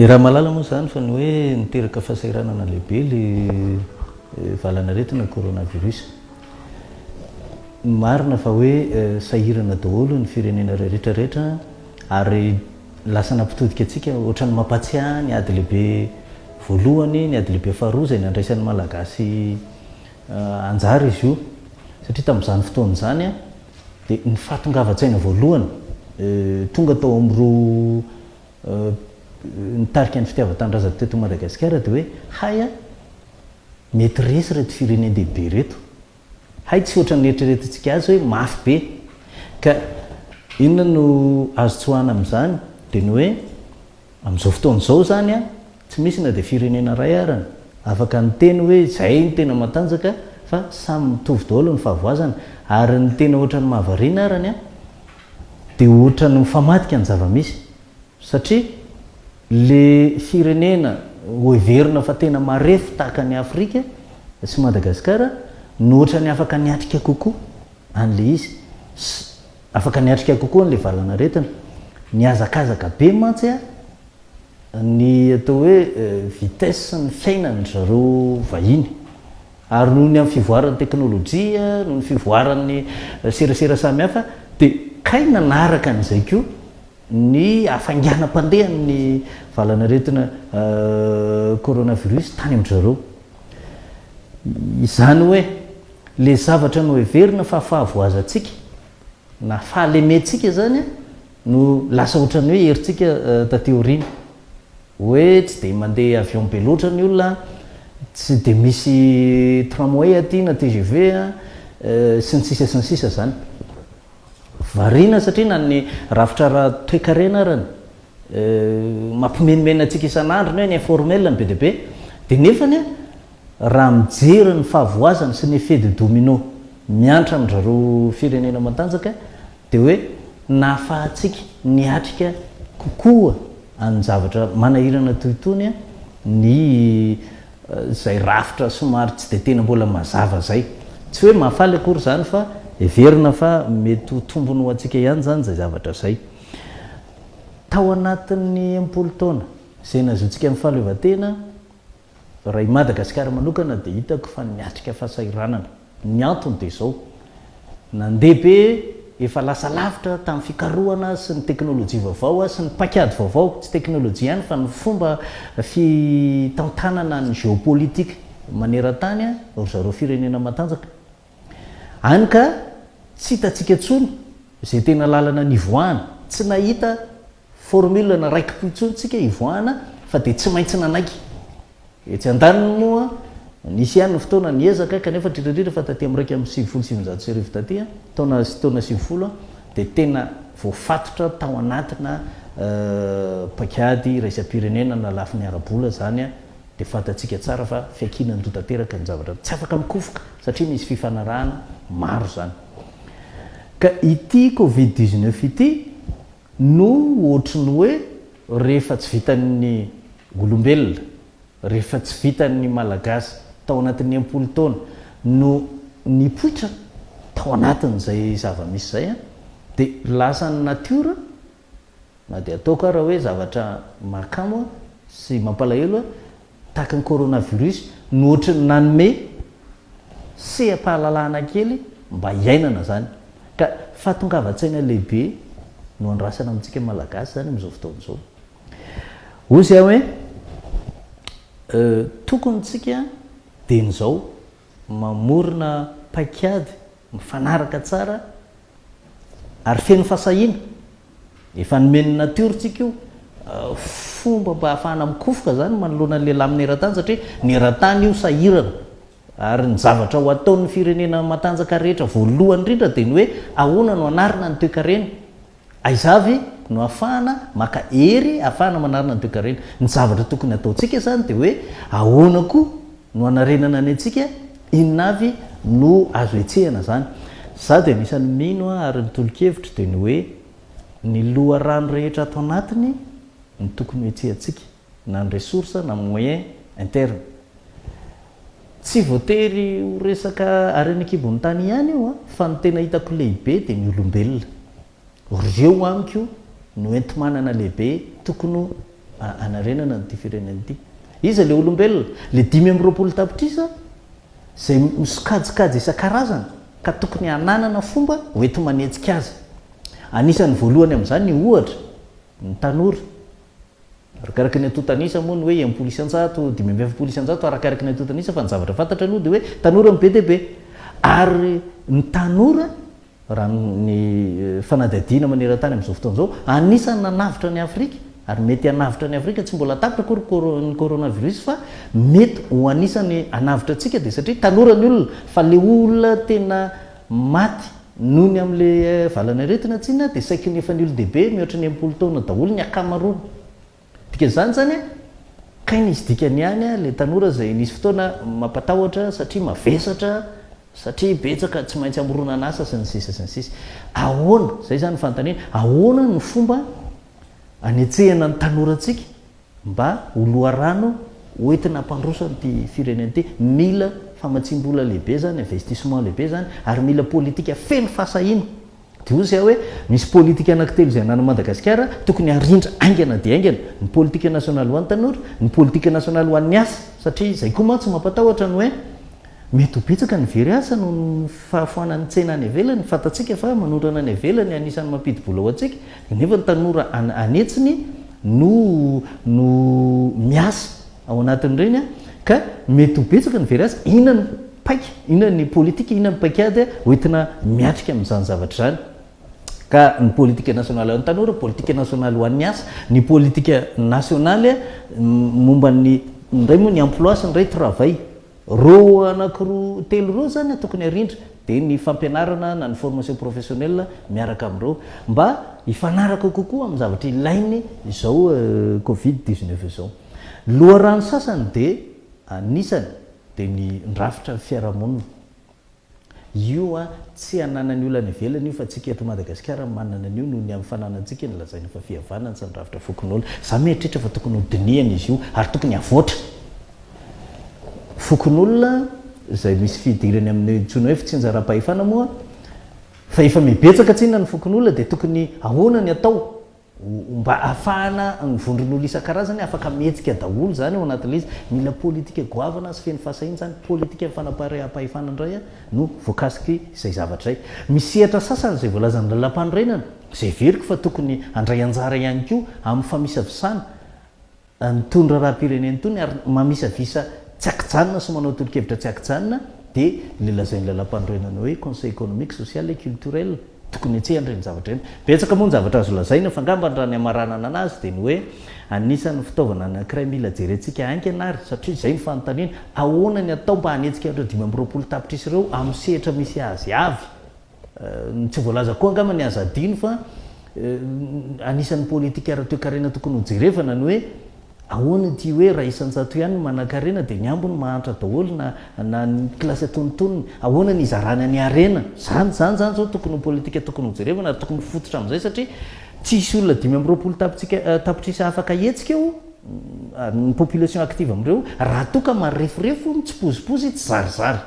I Ramalala moa izany fa ny hoe niteraka fahasahiranana lehibe ilay valan'aretina coronavirus. Marina fa hoe sahirana daholo ny firenena rehetra rehetra ary lasa nampitodika antsika ohatran'ny mampahatsiahy ny ady lehibe voalohany, ny ady lehibe faharoa izay nandraisan'ny Malagasy anjara izy io. Satria tamin'izany fotoana izany dia ny fahatongavan-tsaina voalohany tonga tao amin'ireo nitarika ny fitiavan-tanindrazana teto Madagasikara dia hoe hay an! mety resy ireto firenen-dehibe ireto, hay tsy ohatran'ny eritreretintsika azy hoe mafy be. Ka inona no azo tsoahana amin'izany? Dia ny hoe amin'izao fotoana izao izany an! Tsy misy na dia firenena iray arany afaka niteny hoe izay no tena matanjaka fa samy mitovy daholo ny fahavoazana ary ny tena ohatran'ny mahavariana arany an dia ohatran'ny mifamadika ny zava-misy satria le firenena hoheverina fa tena marefo tahaka an'i Afrika sy Madagasikara no ohatran'ny afaka niatrika kokoa an'le izy Afaka niatrika kokoa an'ilay valanaretina. Nihazakazaka be mantsy ny atao hoe vitesse-n'ny fiainana ry zareo vahiny. Ary noho ny amin'ny fivoaran'ny teknolojia, noho ny fivoaran'ny serasera samihafa dia kay nanaraka an'izay koa ny hafainganam-pandehan'ny valanaretina coronavirus tany amin-dry zareo. Izany hoe. Ilay zavatra noheverina fa fahavoazantsika na fahalementsika izany no lasa ohatran'ny hoe herintsika taty aoriana. Hoe tsy dia mandeha avion be loatra ny olona, tsy dia misy tramway aty na tgv sy ny sisa sy ny sisa izany. Variana satria na ny rafitra ara-toekarena ary ny mampimenomenona antsika isan'andro ny hoe ny informel no be dia be dia nefany Raha mijery ny fahavoazana sy ny effet de domino miantra amin'izareo firenena matanjaka dia hoe nahafahantsika niatrika kokoa an'ny zavatra manahirana toy itony ny izay rafitra somary tsy dia tena mbola mazava izay. Tsy hoe mahafaly akory izany fa heverina fa mety ho tombony ho antsika ihany izany izay zavatra izay. Tao anatin'ny enimpolo taona izay nahazoantsika ny fahaleovantena, Raha i Madagasikara manokana dia hitako fa niatrika fahasahiranana. Ny antony dia izao, nandeha be, efa lasa lavitra tamin'ny fikarohana sy ny teknolojia vaovao sy ny paikady vaovao, tsy teknolojia ihany fa ny fomba fitantanana ny géopolitique maneran-tany ry zareo firenena matanjaka. Hany ka tsy hitantsika intsony izay tena lalana nivoahana, tsy nahita. Formule na raiki-po intsony tsika hivoahana fa dia tsy maintsy nanaiky. Etsy andaniny moa, nisy ihany ny fotoana niezaka, kanefa indrindra indrindra fa taty amin'ny iraika amby sivifolo sy sivinjato sy arivo taty, taona sy taona sivifolo, dia tena voafatotra tao anatina paikady iraisam-pirenena na lafiny ara-bola izany, dia fantatsika tsara fa fiankinan-doha tanteraka ny zavatra. Tsy afaka mikofoka satria misy fifanarahana maro izany. Ka ity Covid dix-neuf ity, No ohatry ny hoe rehefa tsy vitan'ny olombelona, rehefa tsy vitan'ny Malagasy tao anatin'ny enimpolo taona no nipoitra tao anatin'izay zava-misy izay an, dia lasan'ny natiora, na dia ataoko ara hoe zavatra mahakamo sy mampalahelo an, Tahaka ny coronavirus no ohatry ny nanome seha-pahalalahana kely mba hiainana zany ka fahatongavan-tsaina lehibe no andrasana amintsika Malagasy zany amin'izao fotoana izao. Hoy zay hoe tokony tsika dieny zao mamorona paikady mifanaraka tsara ary feno fasahiana. Efa nomen'ny natiora tsika io fomba mba hahafahana mikofoka zany manoloana ny lehilahy amin'ny eran-tany satria ny eran-tany io sahirana ary ny zavatra ho ataon'ny firenena matanjaka rehetra voalohany indrindra dia ny hoe ahoana no anarina ny toekarena aiza avy no afahana maka hery afahana manarina ny toekarena ny zavatra tokony ataontsika izany dia hoe ahoana koa no anarenana ny antsika Inona avy no azo etsehana izany? Izaho dia anisan'ny mino ary ny tolo-kevitro dia ny hoe ny loharano rehetra ato anatiny no tokony hohetsehantsika, na ny ressources na ny moyens internes. Tsy voatery ho resaka harena an-kibon'ny tany ihany io fa ny tena hitako lehibe dia ny olombelona. Reo amiko no enti-manana lehibe tokony ho anarenana an'ity firenena ity. Iza le olombelona? Le dimy amby roapolo tapitrisa zay misokajikajy isan-karazany ka tokony hananana fomba ho enti-manetsika azy. Anisan'ny voalohany amin'izany ohatra ny tanora. Arakaraky ny antontan'isa moa ny hoe enimpolo isan-jato, dimy amby efapolo isan-jato arakaraky ny antontan'isa fa ny zavatra fantatra aloha dia hoe tanora no be dia be. Ary ny tanora Raha ny fanadihadiana maneran-tany amin'izao fotoana izao, anisan'ny nanavotra an'i Afrika ary mety hanavotra an'i Afrika, tsy mbola tapitra akory ny coronavirus fa mety ho anisan'ny hanavotra antsika dia satria tanora ny olona fa ilay olona tena maty noho ny amin'ilay valanaretina tsinona dia saiky ny efa ny olon-dehibe mihoatra ny enimpolo taona daholo ny akamaroany. Dikan'izany zany a, kay nisy dikany ihany a, le tanora zay nisy fotoana mampatahotra satria mavesatra, satria betsaka tsy maintsy amoronan'asa sy ny sisa sy ny sisa. Ahoana, zay zany ny fanontaniana, ahoana no fomba anetsehana ny tanorantsika mba ho loharano ho entina hampandroso an'ity firenena ity? Mila famatsiam-bola lehibe zany, investissement lehibe zany ary mila politika feno fahasahiana. Dia hoy Zia hoe, misy politika anankitelo izay ananan'i Madagasikara, tokony harindra haingana dia haingana, ny politika nasionaly ho an'ny tanora, ny politika nasionaly ho an'ny asa, satria izay koa mantsy mampatahotra ny hoe, mety ho betsaka ny very asa noho ny fahafoanan'ny tsena any ivelany, fantatsika fa manondrana any ivelany anisan'ny mampidi-bola ho antsika, nefa ny tanora any etsiny no no miasa. ao anatin'ireny ka mety ho betsaka ny very azy, inona ny paika, inona ny politika, inona ny paikady hoentina miatrika amin'izany zavatra izany ka ny politika nasionaly ho an'ny tanora, politika nasionaly ho an'ny asa, ny politika nasionaly momba ny ny iray moa ny emploi sy ny iray travail roa anakiroa telo roa zany tokony arindra dia ny fampianarana na ny formation professionnelle miaraka amin'ireo mba hifanaraka kokoa amin'ny zavatra ilainy izao euh, covid 19 izao Ny loharano sasany dia anisany dia mindrafitra ny fiarahamonina. Io tsy ananany olana ivelany io fa tsika eto Madagasikara manana an'io noho ny amin'ny fananantsika ny lazaina fa fihavanana tsy midrafitra fokonolona. Za mieritreritra fa tokony ho dinihana izy io ary tokony havoatra. Fokonolona izay misy fidirany amin'ny antsoina hoe fitsinjaram-pahefana moa fa efa mibetsaka tsinona ny fokonolona dia tokony ahoana ny atao? ho mba hahafahana ny vondron'olona isan-karazany afaka mihetsika daholo izany ao anatin'ilay izy. Mila politika goavana sy feno fahasahiana izany. Politikan'ny fanapahareaham-pahefana indray no voakasiko izay zavatra izay. Misy sehatra sasany izay voalazan'ny Lalàmpanorenana izay heveriko fa tokony handray anjara ihany koa amin'ny famisavisana. An'itony raharaham-pirenena itony ary mamisavisa tsy ankijanona sy manao tolo-kevitra tsy ankijanona dia ilay lazain'ny Lalàmpanorenana hoe Conseil économique, social et culturel. Tokony hetsehana ireny zavatra ireny. Betsaka moa ny zavatra azo lazaina fa angambany raha ny hamaranana anazy dia ny hoe anisan'ny fitaovana anankiray mila jerentsika haingana ary satria izay ny fanontaniana, ahoana ny atao mba hanetsika ireo dimy amby roapolo tapitrisa ireo amin'ny sehatra misy azy avy? Ny tsy voalaza koa angamba ny aza adino fa anisan'ny politika ara-toekarena tokony ho jerevana ny hoe ahoana ity hoe iray isan-jato ihany ny manan-karena dia ny ambiny mahantra daholo na na ny kilasy antonontonony ahoana ny hizarana ny harena zany zany zany zao tokony ho politika tokony ho jerevana ary tokony fototra amin'izay satria tsy hisy olona dimy amby roapolo tapotsika eh, tapitrisa afaka hihetsika eo ah, ny population active amin'ireo raha toa ka mareforefo mitsipozipozy tsy zarizary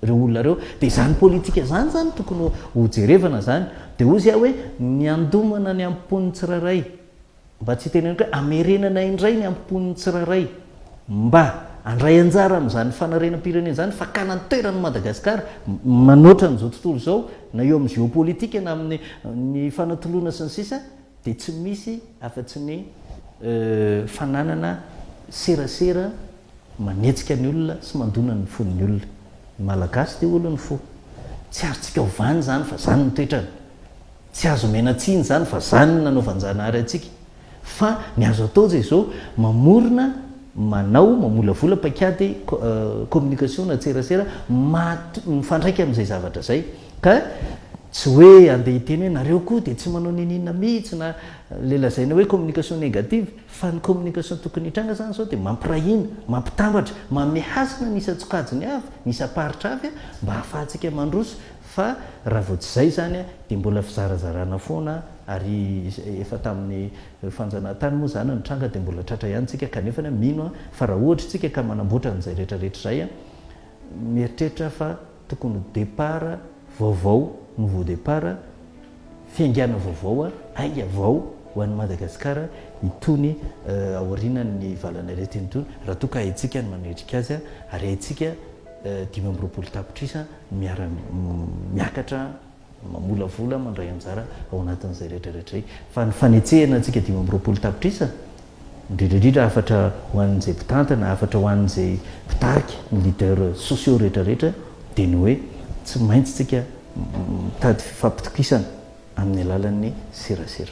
Ireo olona ireo. Dia izany politika izany izany tokony ho jerevana izany. Dia hozy aho hoe ny handomana ny ampopon'ny tsirairay. Mba tsy hiteneniko hoe hamerenana indray ny ampopon'ny tsirairay. Mba handray anjara amin'izany fanarenam-pirenena izany, fakana ny toerany i Madagasikara, manoatra an'izao tontolo izao, na eo amin'ny géopolitique na amin'ny fanatoloana sy ny sisa. dia tsy misy afa-tsy ny fananana serasera manetsika ny olona sy mandona ny fon'ny olona. Ny Malagasy dia olon'ny fo. Tsy azontsika ovana izany fa izany ny toetrany. Tsy azo omena tsiny izany fa izany no nanaovan-Janahary antsika. Fa ny azo atao dia izao, mamorona, manao, mamolavola paikady communication na tserasera maha, mifandraika amin'izay zavatra izay. Ka tsy hoe andeha hiteny hoe nareo koa dia tsy manao niniana mihitsy na ilay lazaina hoe communication négative fa ny communication tokony hitranga izany izao dia mampiray hina, mampitambatra, manome hasina ny isan-tsokajiny avy, ny isam-paritra avy mba hahafahantsika mandroso fa raha vao tsy izay izany dia mbola fizarazarana foana ary efa tamin'ny fanjanahantany moa izany no tranga dia mbola tratra ihany tsika kanefa mino aho fa raha ohatra isika ka manamboatra an'izay rehetra rehetra izay mieritreritra aho fa Tokony ho départ vaovao, nouveau départ, fiaingàna vaovao, aina vao ho an'i Madagasikara itony aorianan'ny valan'aretina itony, raha toa ka haintsika ny manendrika azy ary haintsika dimy amby roapolo tapitrisa miara-miakatra. mamolavola mandray anjara ao anatin'izay rehetra rehetra izay. Fa ny fanetsehana antsika dimy amby roapolo tapitrisa, indrindra indrindra hafatra ho an'izay mpitantana, hafatra ho an'izay mpitarika, ny leaders sociaux rehetra rehetra, dia ny hoe tsy maintsy tsika mitady fifampitokisana amin'ny alalan'ny serasera.